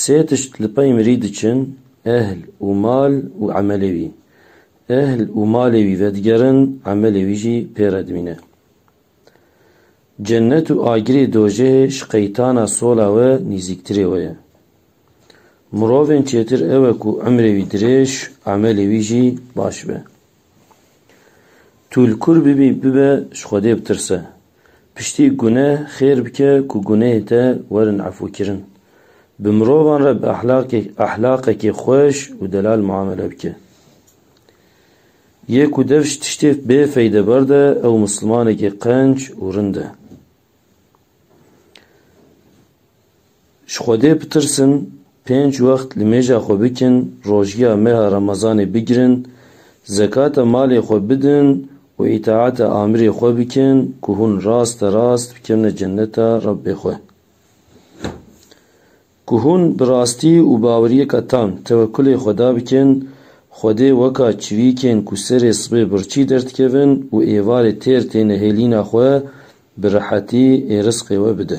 Sê tişt li pey mirî diçin, ehl û mal û emelê wî. Ehl û malê wî vedigerin, emelê wî jî pê re dimîne. Cennet û agirê dojehê ji qeytana sola we nîzîktirê we ye. Mirovên çêtir ew e ku emrê wî dirêj, emelê wî jî baş be. Tu li kur bibî bibe ji Xwedê bitirse. Piştî guneh xêr bike ku gunehê te werin efûkirin. Bi mirovan re bi ehlaqekî xweş û delal muamele bike. Yê ku dev ji tiştê bê feydeber de ew mislimanekî qenc û rind e. Ji Xwedê bitirsin, pênc wext li mêja xwe bikin, rojiya meha Remezanê bigirin, zekata malê xwe bidin û îtaata amirê xwe bikin ku hûn raste rast bikevne ceneta Rebbê xwe. Ku hûn bi rastî û baweriyeka tam tewekkulê Xweda bikin, Xwedê weka çivîkên ku serê sibê birçî derdikevin û êvarê têr têne hêlîna xwe, bi rehetî ê risqê we bide.